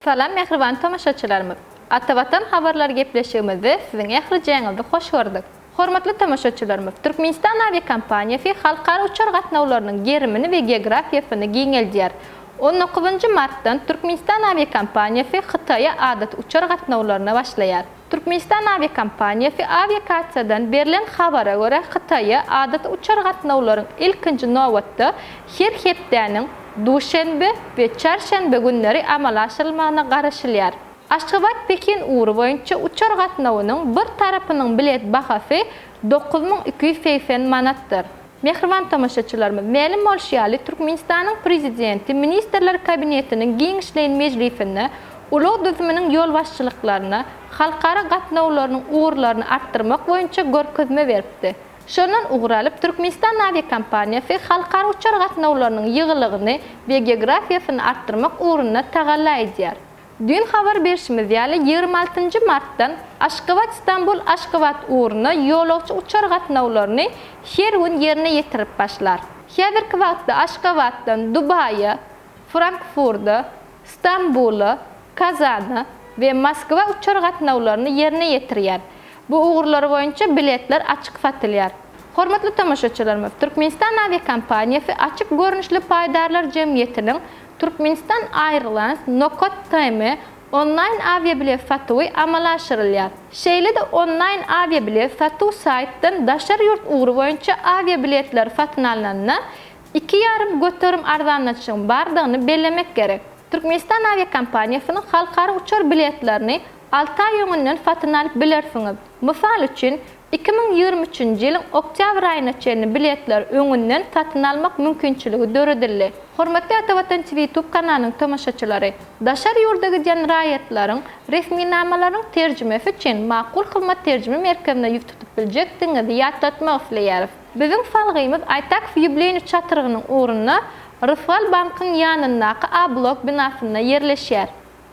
Salam mähriban tomaşaçylarymyz! Ata Watan habarlary gepleşigimizde siziň ählijäňizi hoş gördük. Hormatly tomaşaçylarymyz, Türkmenistan awiakompaniýasy halkara uçar gatnawlarynyň gerimini we geografiýasyny giňeldýär. On dokuzynjy martdan Türkmenistan awiakompaniýasy Hytaýa adaty uçar gatnawlaryna başlaýar. Türkmenistan awiakompaniýasy Awiakasiýadan berlen habara görä, Hytaýa adaty uçar gatnawlaryň ilkinji nobatda her hepdäniň duşenbe we çarşenbe günleri amala aşyrylmagyna garaşylýar. Aşgabat-Pekin ugry boýunça uçar gatnawynyň bir tarapynyň bilet bahasy dokuz müň iki ýüz segsen manatdyr. Mähriban tomaşaçylarymyz, mälim bolşy ýaly, Türkmenistanyň Prezidenti Ministrler Kabinetiniň giňişleýin mejlisinde ulag düzüminiň ýolbaşçylyklaryna halkara gatnawlarynyň ugurlaryny artdyrmak boýunça görkezme beripdi. Şondan ugur alyp, Türkmenistan awiakompaniýasy halkara uçar gatnawlarynyň ýygylygyny we geografiýasyny artdyrmak ugrunda tagalla edýär. Düýn habar berşimiz ýaly, ýigrimi altynjy martdan Aşgabat-Stambul, Aşgabat ugruna ýolagçy uçar gatnawlaryny her gün ýerine ýetirip başlar. Häzirki wagtda Aşgabatdan Dubaýa, Frankfurda, Stambula, Kazana we Moskwa uçar gatnawlaryny ýerine ýetirýär. Bu ugurlar boýunça biletler açyk satylýar. Hormatly tomaşaçylarymyz, Türkmenistan awiakompaniýasy açyk görnüşli paýdarlar jemgyýetiniň Turkmenistan Airlines Nokat TM onlaýn awiabilet satuwy amala aşyrylýar. Şeýle-de onlaýn awiabilet satuw saýtdan daşary ýurt ugry boýunça awiabiletleri satyn alnanda iki ýarym göterim arzanlatyşygyň bardygyny bellemek gerek. Türkmenistan awiakompaniýasynyň halkara uçar biletlerini alty aý öňünden satyn alyp bilersiňiz. Mysal üçin, Iki müň ýigrimi üçünji ýylyň oktýabr aýyna çenli biletleri öňünden satyn almak mümkinçiligi döredildi. Hormatly Atawatançy Ýutub kanalynyň tomaşaçylary! Daşary ýurda gidýän raýatlaryň resminamalarynyň terjimesi üçin Makul Hyzmat terjime merkezine ýüz tutup biljekdigiňizi ýatlatmak isleýäris. Biziň salgymyz Aýtakf ýubileýni çatrygynyň ugrunda Rysgal bankyň ýanyndaky A-blok binasynda ýerleşýär.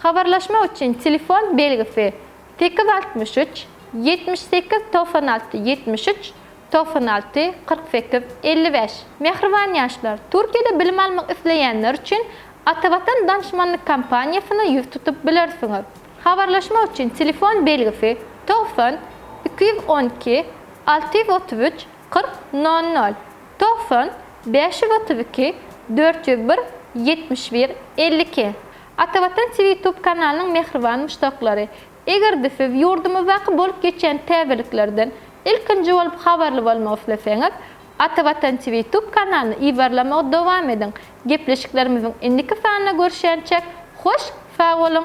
Habarlaşmak üçin telefon belgisi sekiz altmyş üç, ýetmiş sekiz togsan alty ýetmiş üç, togsan alty, kyrk sekiz, elli bäş. Mähriban ýaşlar, Türkiýede bilim almak isleýänler üçin Atavatan danşmanlyk kampaniýasyna ýüz tutup bilersiňiz. Habarlaşmak üçin telefon belgisi togsan, iki ýüz on iki, alty ýüz otuz üç, kyrk, nol nol, togsan, bäş ýüz otuz iki, dört ýüz bir, ýetmiş bir, elli iki. Atavatan TV YouTube kanalynyň mähriban muşdaklary! Eger-de siz ýurdumyzdaky bolup geçýän täzeliklerden ilkinji bolup habarly bolmak isleseňiz, Atavatan TV YouTube kanalyny yzarlamagy dowam ediň! Gepleşiklerimiziň indiki sanynda görüşýänçä hoş sag boluň!